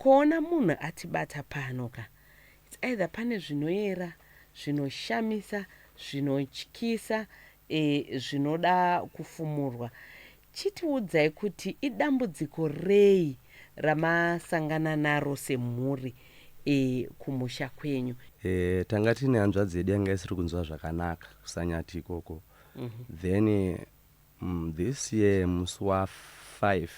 Kuona munhu atibata pano ka it's either pane zvinoyera, zvinoshamisa, zvinotyisa eh, zvinoda kufumurwa. Chitiudzai kuti idambudziko rei ramasangana naro semhuri eh, kumusha kwenyu? Eh, tanga tine hanzvadzi yedu yanga isiri kunzwa zvakanaka kusanyati ikoko then mm, this year musi wa 5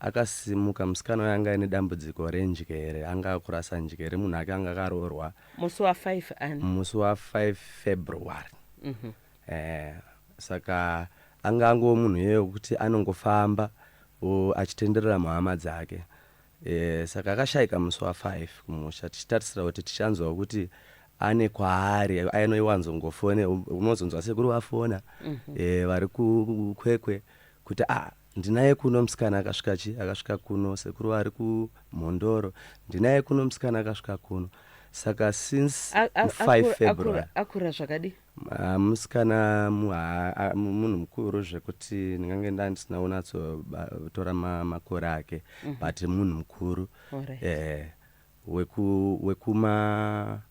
Akasimuka musikana uya anga aine dambudziko renjere anga akurasa njere munhu ake anga akaroorwa. Musi wa five ani? Musi wa five February. Mhm. Eh saka anga angove munhu iye wekuti anongofamba wo achitenderera muhama dzake. Eh saka akashaika musi wa five kumusha tichitarisira kuti tichanzwa kuti ane kwaari ainoiwanzongofone unozonzwa sekuru vafona eh vari ku Kwekwe kuti ah Ndinaye kuno musikana akasvika chi akasvika kuno sekuru ari kumhondoro ndinaye kuno musikana akasvika kuno saka since 5 february akura zvakadi ah, musikana munhu mukuru zvekuti ndingange nda ndisina unatsotora makore ake mhm. but munhu mukuru eh, wekuma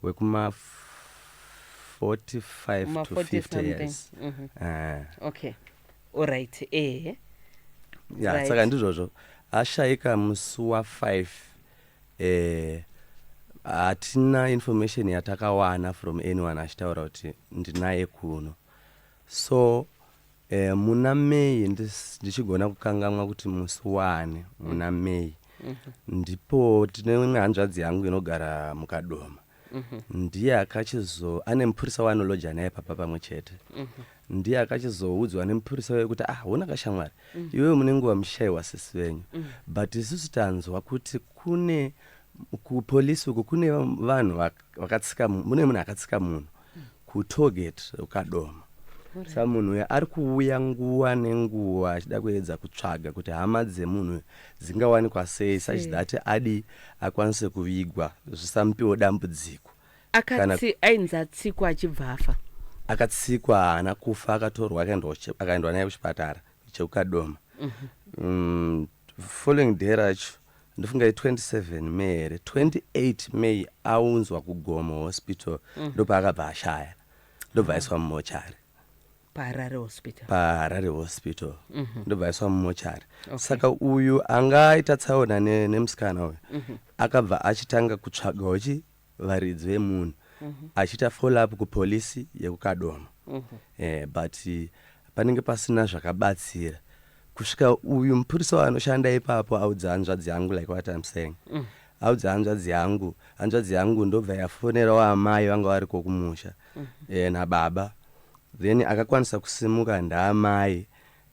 wekuma 45 Kuma to 40 50 something. years Mhm. Eh. okay olright ehe ya Right. saka ndizvozvo ashaika musi wa5 eh, hatina information yatakawana from anyone achitaura kuti ndinaye kuno so Eh, muna May ndis- ndichigona kukangamwa kuti musi waani muna May ndipo tine imwe hanzvadzi yangu inogara mukadoma ndiye akachizo ane mupurisa waanolodja naye papa pamwe chete ndiye akachizoudzwa nemupurisa uye kuti ah hona kashamwari iwewe mune nguva muchishaiwa sisi venyu but isusu tanzwa kuti kune kupolisi uko kune vanhu vak- vakatsika mu- mune munhu akatsika munhu kutoget ukadoma sa munhu uya ari kuuya nguva nenguva achida kuedza kutsvaga kuti hama dzemunhu dzingawanikwa sei such that adi akwanise kuvigwa zvisamupiwo dambudziko akatsi ainzi atsikwa achibva afa akatsikwa haana kufa akatorwa akaendwa naye kuchipatara chekukadoma mhm. mm, following day racho ndofunga i 27 may here 28 may aunzwa kugomo hospital mm. ndopaakabva ashaya ndobva aiswa ah. mumochari paharare hospital paharare hospital mm -hmm. ndobva aiswa mumochari okay. saka uyu anga aita tsaona nemusikana ne uyu mm -hmm. akabva achitanga kutsvagawo chi varidzi vemunhu achiita follow up kupolice yekuKadoma eh, but panenge pasina zvakabatsira kusvika uyu mupurisa wanoshanda ipapo audza hanzvadzi yangu like what I'm saying audza hanzvadzi yangu hanzvadzi yangu ndobva yafonerawo amai vanga variko kumusha eh, nababa then akakwanisa kusimuka ndaamai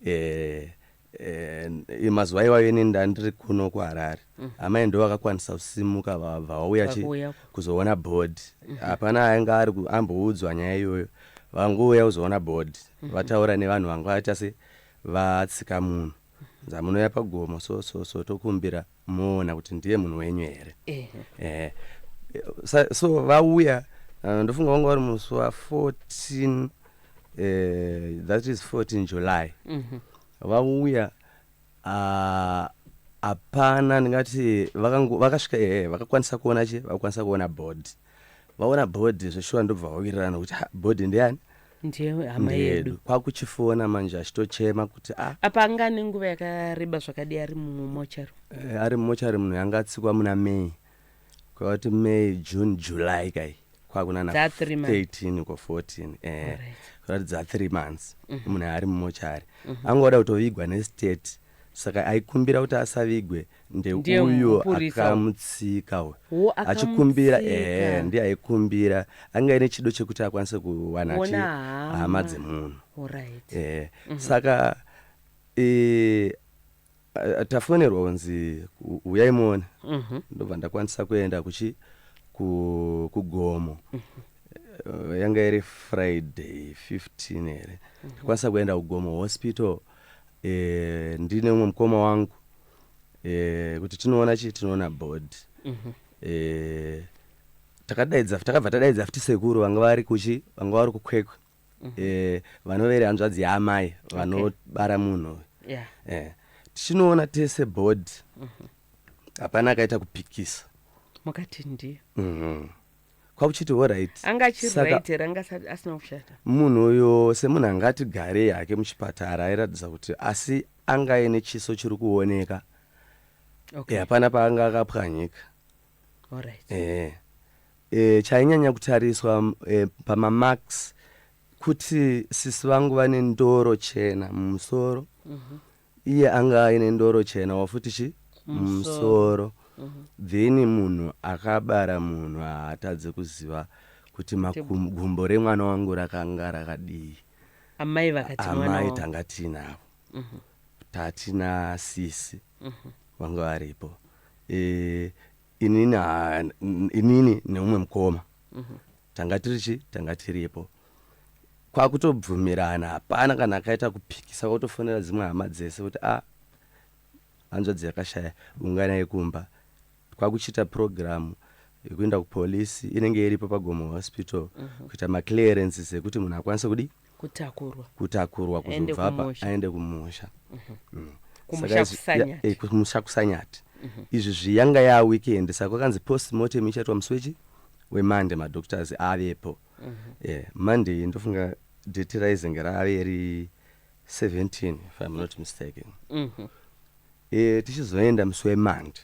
eh, Eh, mazuva iwayo ini ndandiri kuno kuharare mm. amai ndo vakakwanisa kusimuka vabva vauya kuzoona bhodhi mm-hmm. hapana ainge ari amboudzwa nyaya iyoyo vangouya kuzoona bhodhi mm-hmm. vataura nevanhu vanga vaita se vatsika munhu dzamunouya pagomo so so so tokumbira moona kuti ndiye munhu wenyu here eh, so vauya uh, ndofunga vanga vari musi wa 14 eh, that is 14 july mhm. vauya ah, hapana ndingati vakasvika ehe vakakwanisa kuona che vakakwanisa kuona body vaona body zveshuwa ndobva vawirirana kuti "Ha, body ndeyani ndiye hama Ndiye yedu yedu." kwakuchifona manje achitochema kuti ah, apa anga ane nguva yakareba zvakadii ari mumochari eh, ari mumochari munhu yanga atsikwa muna may kwavati may june july kai kwakunana Dza three months. 13 ko 14 eh, Alright. kwavati dza 3 months munhu ari mumochari angoda kutovigwa nestate saka aikumbira kuti asavigwe ndeuyo akamutsika uyu achikumbira ehe ndiye aikumbira anga ine chido chekuti akwanise kuwana chi hama dzemunhu ehe mhm. saka e, tafonerwa kunzi uyai muone mhm. ndobva ndakwanisa kuenda kuchi kugomo mhm. eh, yanga iri friday 15 here ndakwanisa kuenda kugomo hospital e, ndine umwe mukoma wangu e, kuti tinoona chii tinoona bod mm -hmm. e, takadaidza takabva tadaidza futi sekuru vanga vari kuchi vanga vari kukwekwe mm -hmm. e, vanovere hanzvadzi yaamai vanobara okay. munhu yeah. e, tichinoona tese bod mhm. hapana mm -hmm. akaita kupikisa mukati ndiyo mm -hmm. kwakuchiti orit anga achiriit here anga asina kushata munhu uyo semunhu anga atigarei hake muchipatara airatidza kuti asi anga aine chiso chiri kuoneka okay. hapana paanga akapwanyika orit e, eh, e, eh, chainyanya kutariswa e, pamamarks kuti sisi vangu vane ndoro chena mumusoro mm -hmm. Iye anga aine ndoro chena wafuti chi musoro then munhu akabara munhu haatadze kuziva kuti makum, gumbo remwana wangu rakanga rakadii Amai vakati mwana amai wangu. tanga tiinavo tati nasisi vanga varipo e, inini ha- n- inini neumwe mukoma tanga tiri chi tanga tiripo kwakutobvumirana hapana kana akaita kupikisa kwakutofonera dzimwe hama dzese kuti a hanzvadzi yakashaya unganai kumba kwakuchiita purogiramu yekuenda kupolisi inenge iripo pagomo hospital kuita maclearances ekuti munhu akwanise kudii kutakurwa kutakurwa kuzobva apa aende kumusha mhm. mm. kumusha kusanyati mhm. izvi zviyanga yaa weekend saka kwakanzi post mortem ichaitwa musi wechi wemonday madoctors avepo mhm. monday ndofunga date raizenge rave ri 17 if im not mistaken eh, tichizoenda musi wemandi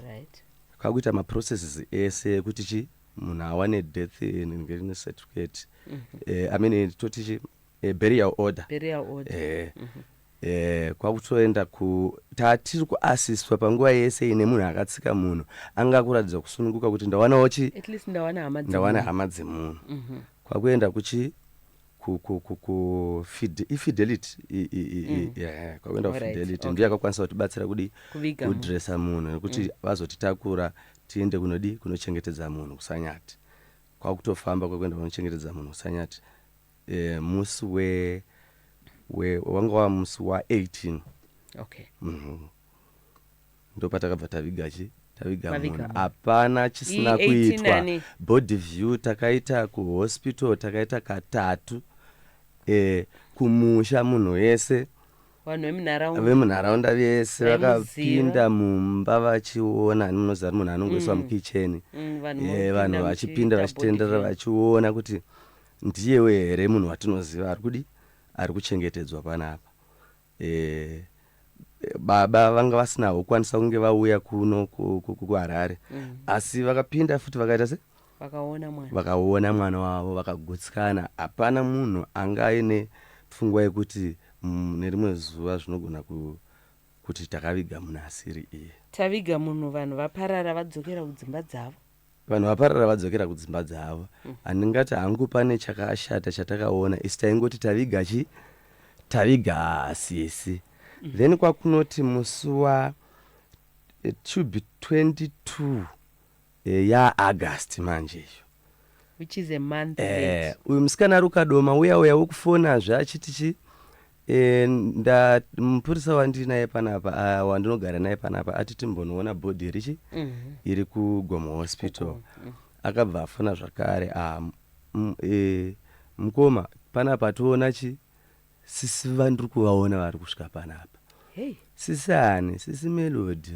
right. kwakuita maprocesses ese ekuti chi munhu awane death ne certificate mm -hmm. eh, i mean toti chi eh, burial order, burial order. Eh, mm -hmm eh kwakutoenda ku tatiri kuasiswa panguva yese ine munhu akatsika munhu anga kuratidza kusununguka kuti ndawanawo chi ndawana hama dzemunhu mhm. kwakuenda kuchi ku, ku, ku, ku fide, ifidelity i, i, i, mm. yeah, kwakuenda kufidelity okay. ndiyo yakakwanisa kutibatsira kudi kudresa munhu nekuti mm. vazotitakura tiende kunodi kunochengetedza munhu kusanyati kwakutofamba kwekuenda kunochengetedza munhu kusanyati e, musi we, we wanga wa musi wa 18 okay. mm -hmm. ndopatakabva taviga chi taviga munhu hapana chisina kuitwa body view takaita kuhospital takaita katatu eh, kumusha munhu wese vanhu vemunharaunda vese vakapinda mumba vachiona ani munoziva kuti munhu anongoiswa mm. mukicheni mm, eh, vanhu vachipinda vachitenderera vachiona kuti ndiyewe here munhu watinoziva ari kudi ari kuchengetedzwa panapa Eh, baba vanga vasina kukwanisa kunge vauya kuno ku- ku- ku- kuharare Mm. asi vakapinda futi vakaita se vakaona mwana vakaona mwana wavo vakagutsikana hapana munhu anga aine pfungwa yekuti mm, nerimwe zuva zvinogona ku, kuti takaviga munhu asiri iye taviga munhu vanhu vaparara vadzokera kudzimba dzavo Vanhu vaparara vadzokera kudzimba dzavo. Handingati hangu pane chakashata chatakaona isu taingoti taviga chi taviga sisi then kwakunoti musi wa it should be 22 eh, ya August manje iyo Which is a month eh, late. uyu musikana ari ukadoma uya uya wekufonazve achiti chi E, nda mupurisa wandiri naye panapa uh, wandinogara naye panapa ati timbonoona bhodhi richi mm -hmm. iri kugomo hospital mm -hmm. akabva afona zvakare ah, e, mukoma panapa toona chi sisi vandiri kuvaona vari kusvika panapa hey. sisi ani sisi melodi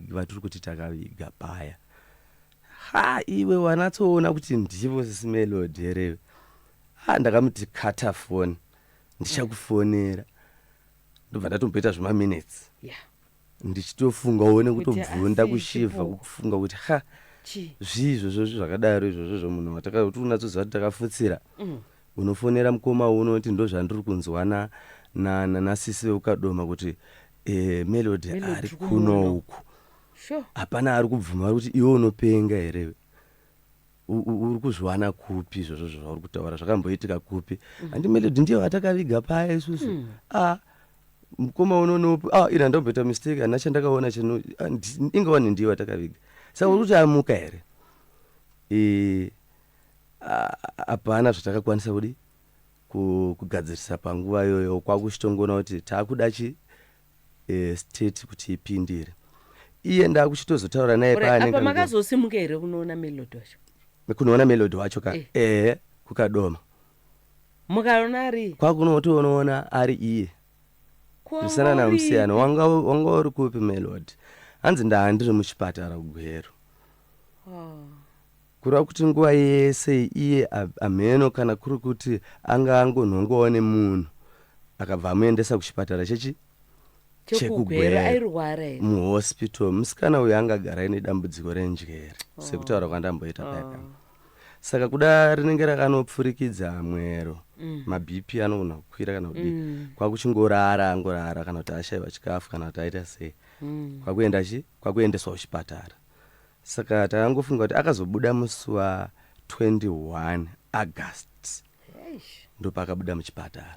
vatiri kuti takaviga paya ha iwe wanatsoona kuti ndivo sisi melodi here ha ndakamuti kata foni ndichakufonera ndobva ndatomboita zvemaminutes yeah. ndichitofunga uone kutobvunda kushivha kufunga kuti ha zvii izvozvo zvakadaro izvozvo zvomunhu watakauti unatsoziva kuti takafutsira mm. unofonera mukoma uno kuti ndozvandiri kunzwa nasisi veukadoma kuti eh, melody ari kuno uku hapana ari kubvuma kuti iwe unopenga here uri kuzviwana kupi izvozvo zvauri kutaura zvakamboitika kupi mm. handi melodi ndiyo vatakaviga paya isusu mm. ah, mukoma unonopi ah, iri handakumboita mistake hana chandakaona chino ah, inga wani ndiyo vatakaviga saka uri kuti amuka here e, hapana zvatakakwanisa kudi kugadzirisa panguva iyoyo kwakuchitongona kuti taakuda chi state kuti ipindire iye ndakuchitozotaura naye Alright, apa paanenge makazosimuka here kunoona melody wacho kunoona melody wacho ka Eh. ehe kukadoma mukaona ari kwakunotoonoona ari iye Ko zvisana wanga uri- namusiyana wanga wanga uri kupi melody hanzi ndaa ndiri muchipatara kugweru Oh. Kureva kuti nguva yese iye hamheno kana kuri kuti anga angonhongwawo nemunhu akabva amuendesa kuchipatara chechi chekuGweru airwara here muhospital musikana uyu anga agara ine dambudziko renjere oh. sekutaura kwandamboita paya oh. saka kuda rinenge rakanopfurikidza mwero mm. mabp anogona kukwira kana kudii mm. kwakuchingorara angorara kana kuti ashaiwa chikafu kana kuti aita sei mm. kwakuenda chi kwakuendeswa kuchipatara Saka takangofunga kuti akazobuda musi wa 21 August Eish. ndopaakabuda muchipatara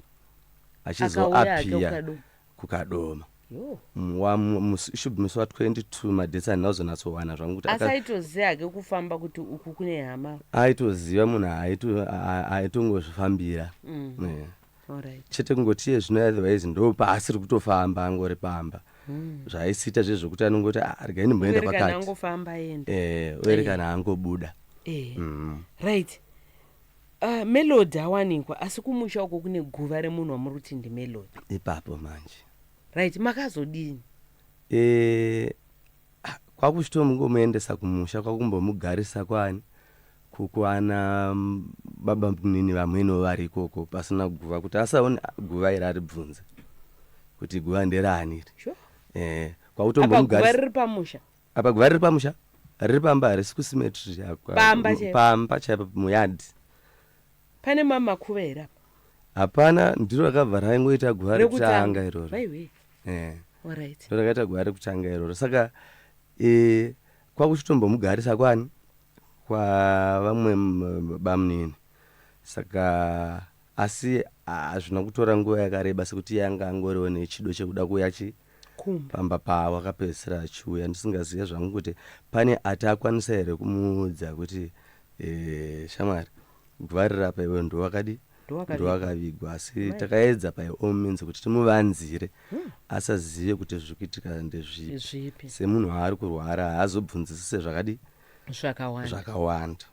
Akauya hake achizoapia kuKadoma. kukadoma Yo. Mm, wa- mu- musi- should be musi wa 22 madhesi handina kuzonatsowana zvangu kuti asi aka- aitoziva hake kufamba kuti uku kune hama aitoziva munhu aito- a- a- aitongozvifambira Mm. Yeah. Alright. chete kungoti iye zvino otherwise ndo paasiri kutofamba angori pamba zvaaisiita zviye zvekuti anongoti "Ah, regai ndimboenda Uyerekana pakati angofamba aenda. Eh, oerekana angobuda Eh. Mm. Right. Uh, Melody awanikwa asi kumusha uko kune guva remunhu wamuri kuti ndi Melody. ipapo manje Right, makazodini? Eh, Ah, kwakuchitongomuendesa kumusha kwakumbomugarisa kwani kukwana baba munini vamweniwo vari ikoko pasina guva kuti asaone guva iri aribvunze kuti guva nderaani iri sure. eh, kwakutombomugarisa riri pamusha apa guva riri pamusha riri pamba harisi kusimetri pamba chaipo muyadhi pane mamakuva here apa hapana ndiro rakabva raingoita guva rekutanga iroro eh. right. ndorakaita gwara rekutanga iroro saka e, kwakuchitombomugarisa kwani kwavamwe bamunini saka asi hazvina ah, kutora nguva yakareba sekuti yanga angoriwo nechido chekuda kuuya chi pamba pavo akapedzisira achiuya ndisingazive zvangu kuti pane ati akwanisa here kumuudza kuti e, shamwari gwarira apa iwe ndiwakadii ndowakavigwa asi takaedza by all means kuti timuvanzire hmm. asazive kuti zviri kuitika ndezvipi semunhu waari kurwara haazobvunzisise zvakadi zvakawanda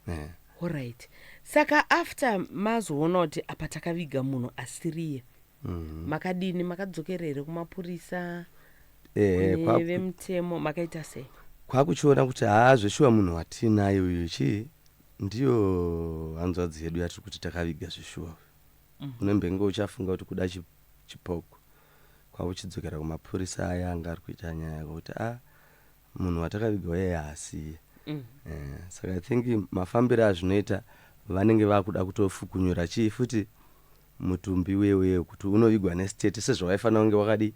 eh. orit saka after mazoona kuti apa takaviga munhu asiriye mhm. makadini makadzokera here kumapurisa eh, vemutemo makaita sei kwakuchiona kuti haa zveshuwa munhu watiinaye uyu chii Ndiyo hanzvadzi hedu yatiri kuti takaviga zveshuwa uyu. Mm. Unembenge uchafunga kuti kuda chi, chipoko kwakuchidzokera kumapurisa aya anga ari kuita nyaya yako kuti a ah, munhu watakaviga uye haasiye. Mm. Eh, saka I think mafambiro azvinoita vanenge vakuda kutofukunyura chii futi mutumbi wewe kuti unovigwa nestate sezvawaifanira kunge wakadi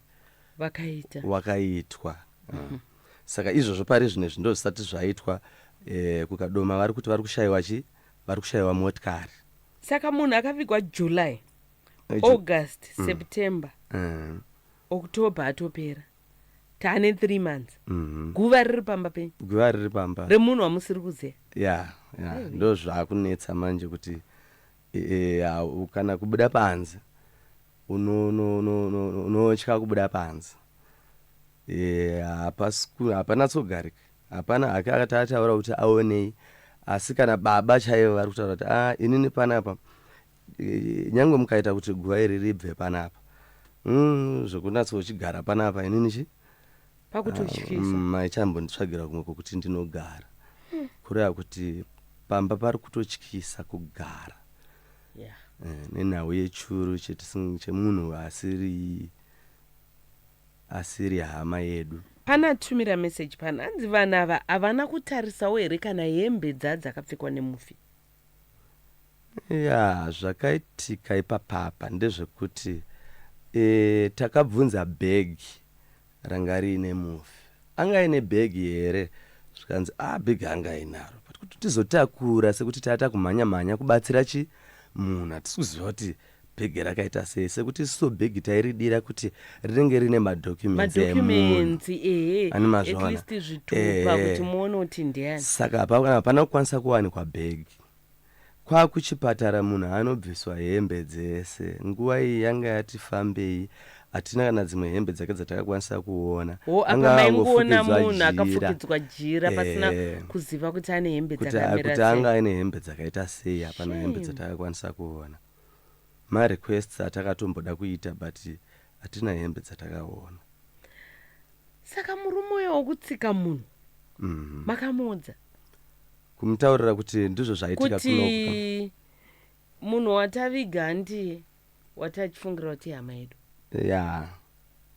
vakaita wakaitwa. Mm. Mm. Saka izvozvo parizvinezvi ndozvisati zvaitwa kuKadoma vari kuti vari kushaiwa chi vari kushaiwa motikari. Saka munhu akavigwa July, August, mm. September, mm. October atopera tane 3 months mm-hmm. guva riri pamba penyu guva riri pamba remunhu wamusiri kuzeya ya ya ndo zvakunetsa manje kuti e, e, kana kubuda panze unotya kubuda panze Eh, hapasiku hapanatsogarika hapana hake akati ataura kuti aonei asi kana baba chaivo vari kutaura kuti a ah, inini panapa eh, nyange mukaita kuti guva iri ribve panapa mm, zvekunatsochigara panapa inini chi maichambonditsvagira ah, mm, kumwe kwokuti ndinogara hmm. kureva kuti pamba pari kutotyisa kugara yeah. eh, nenhau yechuru chemunhu asiri asiri hama yedu. Pane atumira message pano hanzi vanhu ava havana kutarisawo here kana hembe dza dzakapfekwa nemufi. Yaa zvakaitika ipapa apa ndezvekuti ee takabvunza bag ranga riine mufi anga aine bag here zvikanzi ah bag anga ainaro but kuti tizotakura sekuti tata kumhanya mhanya kubatsira chi munhu hatisi kuziva kuti Bhegi rakaita sei sekuti isusu bhegi tairidira kuti rinenge rine madocuments emunhu ani mazvaona eh. saka hapana kukwanisa kuwanikwa bhegi kwakuchipatara munhu anobviswa hembe dzese nguva iyi yanga yati fambei hatina kana dzimwe hembe dzake dzatakakwanisa kuona wo apa maingoona munhu akafukidzwa jira pasina eh. kuziva kuti ane hembe dzakamirati anga aine hembe dzakaita sei hapana hembe dzatakakwanisa kuona marequests atakatomboda kuita but hatina hembe dzatakaona saka murume uyo wokutsika munhu mhm. makamuudza kumutaurira kuti ndizvo zvaitika kuti munhu wataviga handiye Wati achifungira kuti ihama yedu? Yaa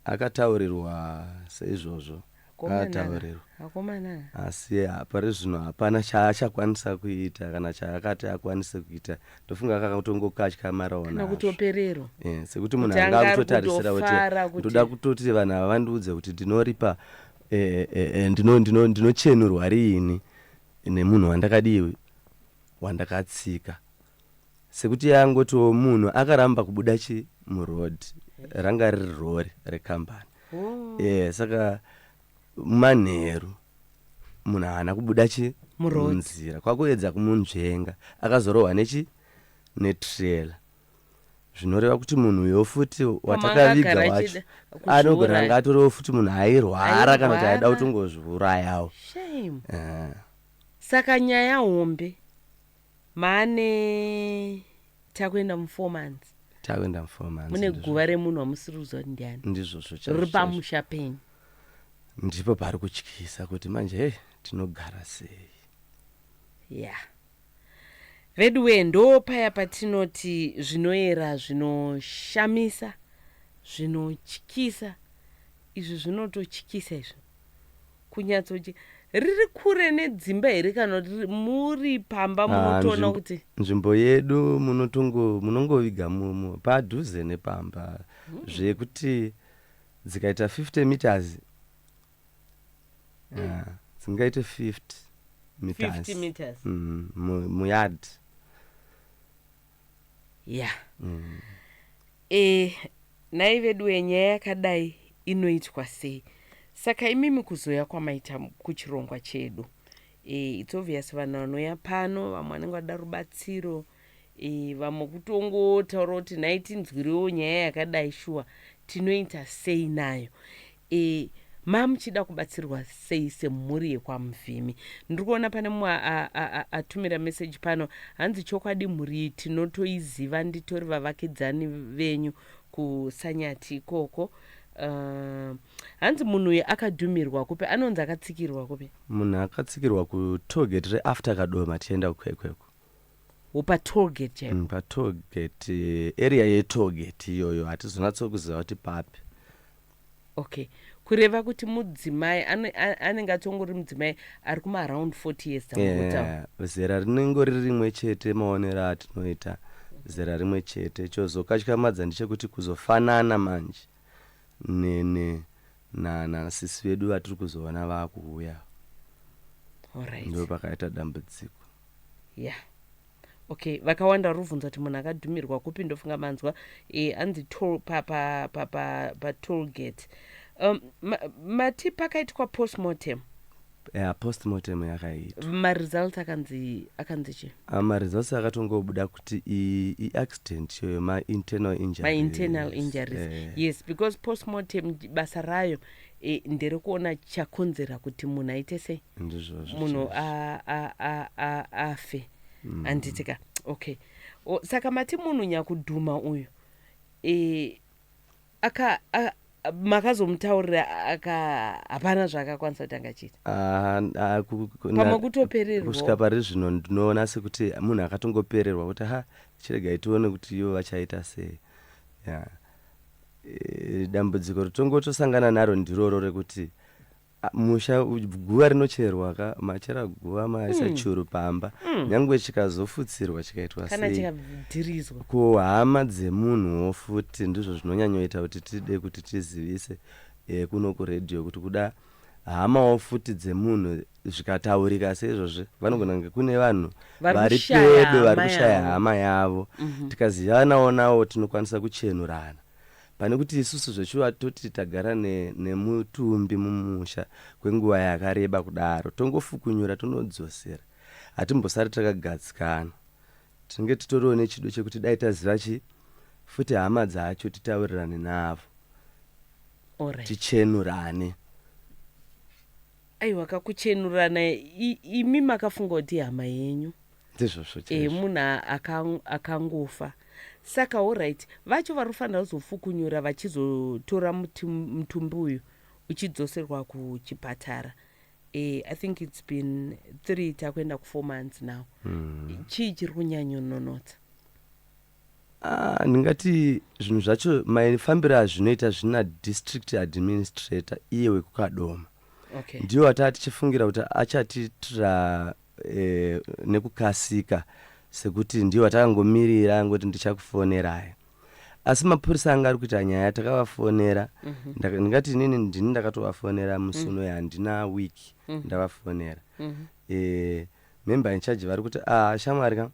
akataurirwa seizvozvo akataurirwa. Akomana aya. Asi pari zvino hapana chaachakwanisa kuita kana chaakati akwanise kuita. Ndofunga akatongokatyamarawo nazvo. Kana kutopererwa. Eh, sekuti munhu anga akutotarisira kuti ndoda kutoti vanhu ava vandiudze kuti ndinoripa eh, eh, eh, ndino ndino ndinochenurwa riini nemunhu wandakadii wandakatsika. Sekuti yangotiwo munhu akaramba kubuda chi muroad ranga riri rori rekambani oh. e, saka manheru munhu haana kubuda chi munzira kwakuedza kumunzvenga akazorohwa nechi netrela zvinoreva kuti munhu uyo futi watakaviga wacho anogona anga atorewo futi munhu airwara kana kuti aida kutongozviurayawo eh. saka nyaya hombe Mane takuenda mu four months. Takuenda mu four months. Mune guva remunhu wamusiri kuziva kuti ndiani. Ndizvozvo chaizvo. Riri pamusha penyu. Ndipo pari kutyisa kuti manje hey tinogara sei. Yeah. Veduwe ndo paya patinoti zvinoera zvinoshamisa zvinotyisa izvi zvinototyisa izvi. Kunyatsoje riri kure nedzimba here kana kuti muri pamba ah, munotoona ah, kuti nzvimbo yedu munotongo munongoviga mumo padhuze nepamba mm. zvekuti dzikaita 50 meters mm. ah, dzingaite 50 meters, 50 meters. Mm, muyard ya mm. e, nhai veduwe nyaya yakadai inoitwa sei saka imimi kuzoya kwamaita kuchirongwa chedu e, it's obvious vanhu vanoya pano vamwe vanenge vada rubatsiro e, vamwe kutongotaura kuti nhai tinzwirewo nyaya yakadai shuwa tinoita sei nayo E, ma muchida kubatsirwa sei semhuri yekwaMuvhimi? Ndiri kuona pane mumwe atumira message pano hanzi chokwadi mhuri iyi tinotoiziva nditori vavakidzani venyu kuSanyati ikoko. Uh, hanzi munhu uyu akadhumirwa kupi anonzi akatsikirwa kupi munhu akatsikirwa kutoget reafter kadoma tichienda kwekweko wopatoget chaipo mm, patoget eh, area yetoget iyoyo hatizonatsokuziva kuti papi Okay kureva kuti mudzimai anenge atongori mudzimai ari kuma around 40 years yeah, zera rinenge riri rimwe chete maonero atinoita zera rimwe chete chozokatyamadza ndichekuti kuzofanana manje nene nanasisi vedu vatiri kuzoona vakuuya ndo pakaita dambudziko yeah. Okay vakawanda vari kuvhunza kuti munhu akadhumirwa kupi ndofunga manzwa e, anzi toll pa pa pa pa, pa toll gate um, ma, mati pakaitwa postmortem yeah, postmortem yakaitwa maresults akanzi akanzi chi Ah, maresults akatongobuda kuti i- iaccident iyo yemainternal injuries. mainternal injuries Eh, yes because postmortem basa rayo e, ndiri kuona chakonzera kuti munhu aite sei ndizvozvo munhu chaizvo. a- a- a- a- afe Mm. handiti ka okay O, saka mati munhu nyakudhuma uyu e, aka a- a- makazomutaurira aka hapana zvaakakwanisa kuti angachiita Ah, ah, ku- ku- na- pamwe kutopererwa kusvika pari zvino ndinoona sekuti munhu akatongopererwa kuti ha chiregai tione kuti ivo vachaita sei yeah. Eh, dambudziko rotongotosangana naro ndiroro rekuti ah, musha u- guva rinocherwa ka machera guva maisa Mm. churu pamba Mm. nyangwe chikazofutsirwa chikaitwa kana sei chikadhirizwa ko hama dzemunhuwo futi ndizvo zvinonyanyoita kuti tide kuti tizivise eh, kuno kuredhiyo kuti kuda hamawo futi dzemunhu zvikataurika seizvozvi vanogona kunge kune vanhu vari pedo vari kushaya hama yavo mhm. tikazivanawo nawo tinokwanisa kuchenurana pane kuti isusu zveshuva toti tagara nemutumbi mumusha kwenguva yakareba kudaro tongofukunyura tonodzosera hatimbosari takagadzikana tinenge titoriwo nechido chekuti dai taziva chi futi hama dzacho titaurirane navo tichenurane right. Aiwa ka kuchenurana imi makafunga kuti ihama yenyu ndizvozvo chezvo e, munhu akangofa saka allright vacho vari kufanira kuzofukunyura vachizotora mutumbi uyu uchidzoserwa kuchipatara e, i think its been three takuenda kufour months now mm. chii chiri kunyanyononotsa ah, ndingati zvinhu zvacho maifambiro azvinoita zvina district administrator iye wekukadoma okay. ndiwo ataa tichifungira kuti achatitira eh, nekukasika sekuti ndiwo atakangomirira angoti ndichakufonerai asi mapurisa anga ari kuita nyaya takavafonera mm -hmm. ndingati inini ndini ndakatovafonera musi mhm. uno mm -hmm. yandina week mm -hmm. ndavafonera mm -hmm. eh, member in charge vari kuti ah, shamwari ka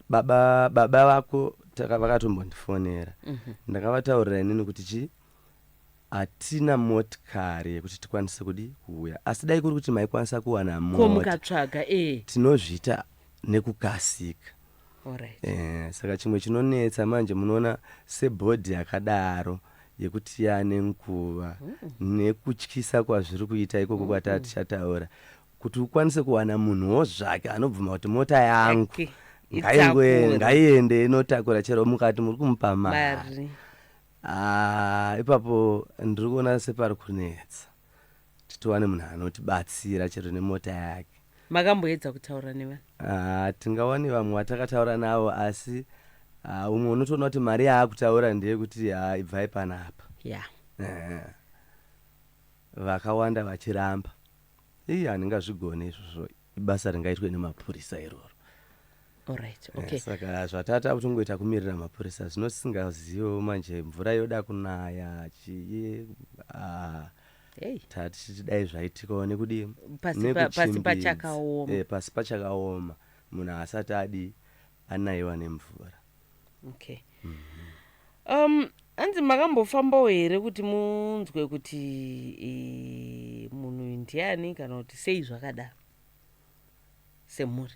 baba baba vako vakatombondifonera mm -hmm. ndakavataurira inini kuti chii hatina motikari yekuti tikwanise kudi kuuya asi dai kuri kuti maikwanisa kuwana momukatsvaga eh. tinozviita nekukasika right. eh, saka chimwe chinonetsa manje munoona sebhodhi yakadaro yekuti yane nguva mm. nekutyisa kwazviri kuita ikoko mm. kwati atichataura kuti ukwanise kuwana munhuwo zvake anobvuma kuti mota yangu okay. ngaiende inotakura chero mukati muri kumupa mari Haa ipapo ndiri kuona separi kunetsa kuti tiwane munhu anotibatsira chero nemota yake. Makamboedza kutaura nevanhu? Haa tingawane vamwe vatakataura navo asi haa umwe unotoona kuti mari yaakutaura ndeyekuti haa ibvai panapa. Yeah. Ehe. Vakawanda vachiramba. Ii handingazvigone izvozvo. ibasa ringaitwe nemapurisa iroro Alright, Eh, okay. saka zvatata kutongoita kumirira mapurisa zvino tisingazivo manje mvura yoda kunaya chii ah, Hey. tati dai zvaitikawo nekudii Pasi pa- pasi Nekuchimbizi. pachakaoma. Eh, pasi pachakaoma munhu haasati adii anaiwa nemvura okay um hanzi makambofambawo here kuti munzwe kuti eh, munhu uyu ndiani kana kuti sei zvakadaro semhuri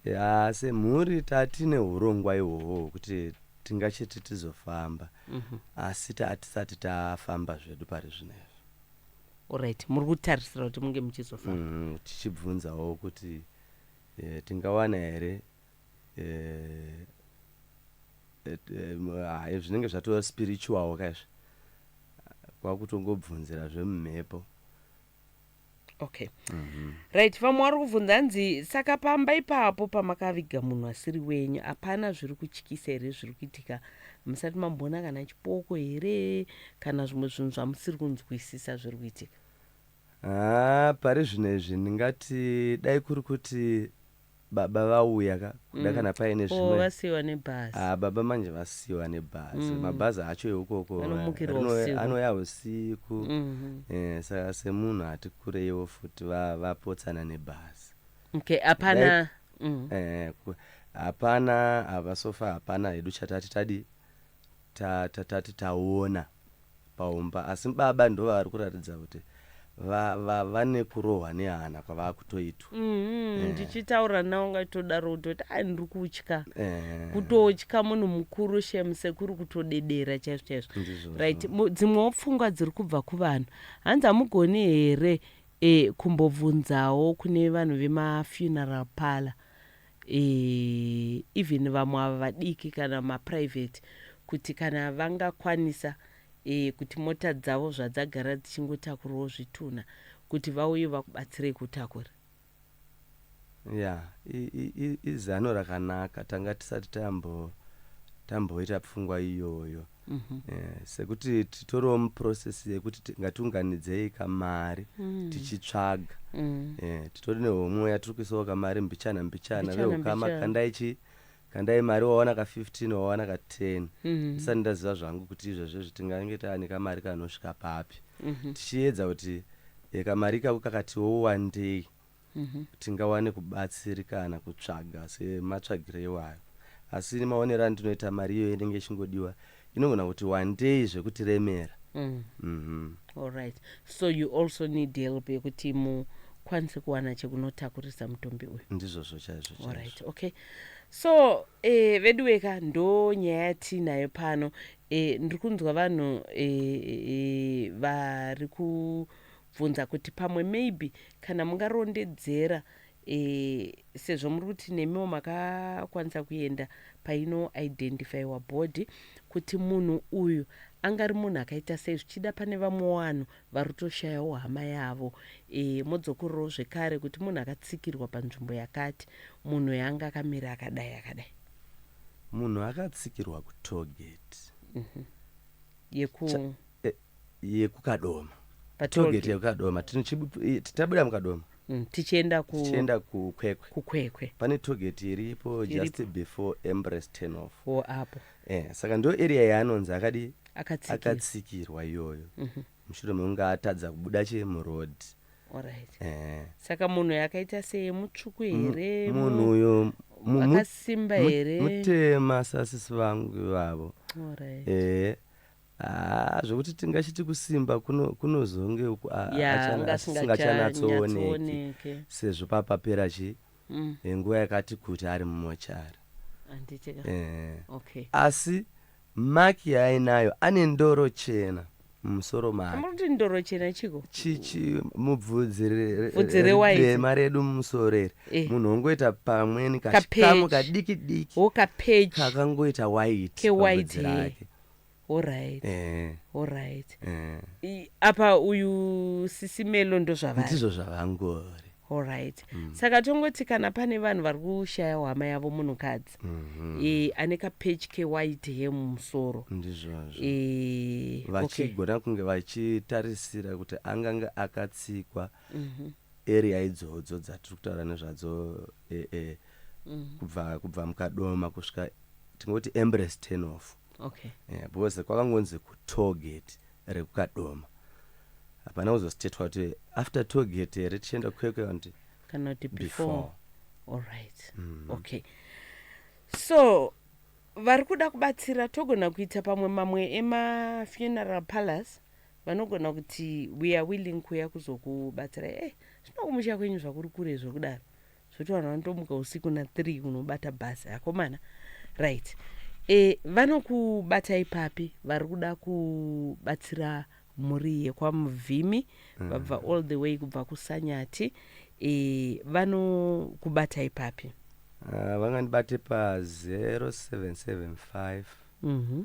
ya semhuri tatine urongwa ihwohwo hwekuti tingachiti tizofamba Mhm. asi tatisati tafamba zvedu pari zvino izvi orit muri kutarisira kuti munge muchizofamba Mm, tichibvunzawo kuti Eh, tingawana here eh, eh, eh, m- ah, eh, zvinenge zvatova spiritual ka izvi kwakutongobvunzira zvemumhepo okay right vamwe vari kubvunza hanzi saka pamba ipapo pamakaviga munhu asiri wenyu hapana zviri kutyisa here zviri kuitika musati mamboona kana chipoko here kana zvimwe zvinhu zvamusiri kunzwisisa zviri kuitika Haa pari zvino izvi ndingati dai kuri kuti baba vauya ka kuda kana paine Oh, zvimwe vasiiwa nebhazi. Ah, baba manje vasiiwa nebhazi Mm. mabhazi acho eukoko Anomukirwa rino- usiku. anouya usiku Mhm. Eh, saka semunhu ati kureiwo futi va- vapotsana nebhazi Okay, hapana. Dai- Mm. Eh, ku- hapana hapa sofa hapana hedu chatati tadi ta- ta- tati taona paumba asi baba ndovavari kuratidza kuti va, va, vane kurohwa nehana kwavakutoitwa Mhm, Eh. ndichitaura nawo ngaitodaro kutoti ai ndiri kutya Eh, kutotya munhu mukuru shem sekuru kutodedera chaizvo chaizvo ndizvozvo. right Mu- dzimwewo pfungwa dziri kubva kuvanhu hanzi hamugoni here e, kumbobvunzawo kune vanhu vemafuneral parlor Eeh even vamwe ava vadiki kana ma private kuti kana vangakwanisa eeh kuti mota dzavo zvadzagara dzichingotakurwawo zvitunha kuti vauye vakubatsirei kutakura. Yeah i i i izano rakanaka tanga tisati tambo tamboita pfungwa iyoyo. mm -hmm. yeah, sekuti titoriwo muprocess yekuti ngatiunganidzei kamari mm. tichitsvaga mm. yeah, titori nehomwe yatiri kuisawo kamari mbichana mbichana veukama kandai chii kandai mari wawana ka 15 wawana ka 10 mm -hmm. ndisati ndaziva zvangu kuti izvezvo zvitingange taani kamari kanosvika papi mm -hmm. tichiedza kuti e, kamari ikako kakatiwo wandei mhm. tingawane kubatsirikana kutsvaga sematsvagiro iwayo asi nemaonero andinoita mari iyoyo inenge ichingodiwa inogona kuti wandei zvekutiremera mm. mm -hmm. alright so you also need help yekuti mu kwanise kuwana chekunotakurisa mutumbi uyu ndizvozvo chaizvo right okay so eh, vedu weka ndo nyaya yatiinayo pano eh, ndiri kunzwa vanhu eh, eh, vari ku bvunza kuti pamwe maybe kana mungarondedzera eh, sezvo muri kuti nemiwo makakwanisa kuenda paino identifyiwa body kuti munhu uyu angari munhu akaita sei zvichida pane vamwe vanhu vari kutoshayawo hama yavo e, modzokorerawo zvekare kuti munhu akatsikirwa panzvimbo yakati munhu yanga akamira akadai akadai munhu akatsikirwa kutoget mm -hmm. yeku e, yekukadoma togeti yekukadoma tabuda mukadoma mm, tichienda ku tichienda kukwekwe kukwekwe pane togeti iripo just before embrace turn off wo apo eh saka ndo area yaanonzi akadi akatsikirwa iyoyo mhm. mushure mekunge atadza kubuda che muroad alright eh saka munhu yakaita seye mutsvuku here munhu uyo akasimba here mutema sasisi vangu ivavo alright eh Haa zvekuti tingachiti kusimba kunozonge uku asingachanatsooneke sezvo papapera chi mm. eh, nguva yakati kuti ari mumochari eh. okay. asi maki yaainayo ane ndoro chena mumusoro makeamuroti ndoro chena chiko chichi mubvudzirema redu mumusoro iri eh. munhu ongoita pamweni kachikamu kadiki diki kakangoita white kewhite rake horit eh. horit eh. apa uyu sisi melo ndozvavandizvo zvavangori horit mm. saka tongoti kana pane vanhu vari kushaya hwama yavo munhukadzi mm -hmm. e, eh, ane kapechi kewhite he mumusoro ndizvozvo e, vachigona okay. kunge vachitarisira kuti angange akatsikwa mm -hmm. area idzodzo dzatiri kutaura nezvadzo e, e, mm. kubva kubva mukadoma kusvika tingoti embrace ten off okay. yeah, because kwakangonzi kutoget rekukadoma hapana kuzostatewa kuti after toget here tichienda kwekwe kuti kana kuti before allright mm. okay so vari kuda kubatsira togona kuita pamwe mamwe emafuneral palace vanogona kuti we are willing kuuya kuzokubatsirai e eh, zvino kumusha kwenyu zvakuri kure zvokudaro zvoti vanhu vanotomuka usiku nathree kunobata bhasi akomana right e, vanokubatai papi vari kuda kubatsira mhuri yekwamuvhimi mm. vabva all the way kubva kusanyati e, vanokubatai papi uh, vangandibate pa 0775 mm -hmm.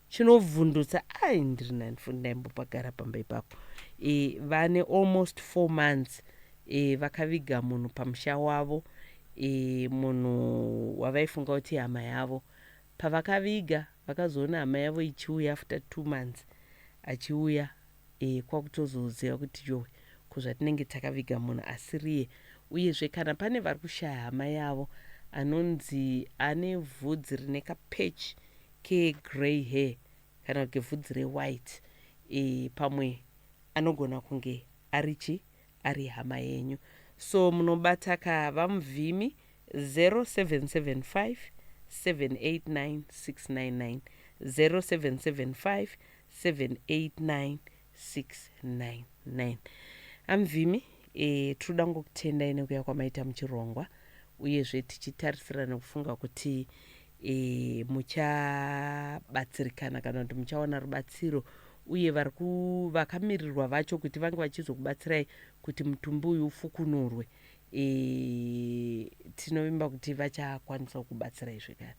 chinovhundutsa ai ndiri nani futi ndaimbopagara pamba ipapo e, vane almost four months e, vakaviga munhu pamusha wavo e, munhu wavaifunga kuti hama yavo pavakaviga vakazoona hama yavo ichiuya after two months achiuya e, kwakutozoziva kuti yowe ko zvatinenge takaviga munhu asiriye uyezve kana pane vari kushaya hama yavo anonzi ane vhudzi rine kapatch ke grey hair kana kuti vhudzi re white e, pamwe anogona kunge ari chi ari hama yenyu so munobata ka vamuvhimi 0775 789 699 0775 789699 Amvimi eh, tiri kuda kungokutendai nekuya kwamaita muchirongwa uyezve tichitarisira nekufunga kuti eh, muchabatsirikana kana kuti muchawana rubatsiro uye vari ku- vakamirirwa vacho kuti vange vachizokubatsirai kuti mutumbi uyu ufukunurwe eh, tinovimba kuti vachakwanisa kukubatsirai zvekare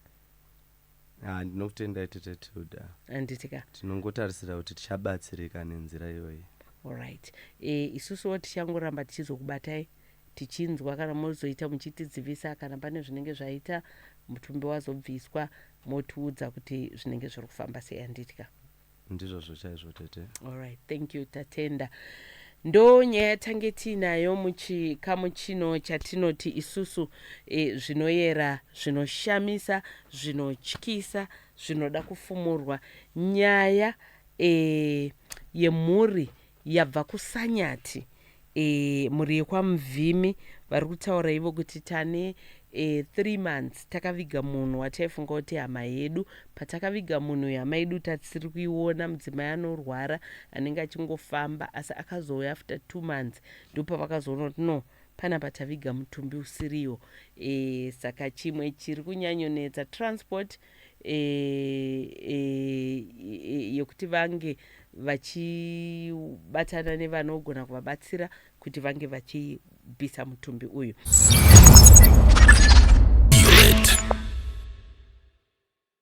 Ah, ndinokutendai tete tilda handiti ka tinongotarisira kuti tichabatsirika nenzira iyoyi alright e, isusuwo tichangoramba tichizokubatai tichinzwa kana mozoita muchitidzivisa kana pane zvinenge zvaita mutumbi wazobviswa motiudza kuti zvinenge zviri kufamba sei handiti ka ndizvozvo chaizvo tete alright thank you tatenda ndo nyaya yatange tiinayo muchikamu chino chatinoti isusu e, zvinoyera zvinoshamisa zvinotyisa zvinoda kufumurwa nyaya e, yemhuri Yabva kuSanyati e, mhuri yekwaMvimi vari kutaura ivo kuti tane e, three months takaviga munhu wataifunga kuti hama yedu. Patakaviga munhu uyu hama yedu tatisiri kuiona, mudzimai anorwara anenge achingofamba asi akazouya after two months ndopavakazoona kuti no panapa taviga mutumbi usiriwo e, saka chimwe chiri kunyanyonetsa transport e, e, e, yekuti vange vachibatana nevanogona kuvabatsira kuti vange vachibvisa mutumbi uyu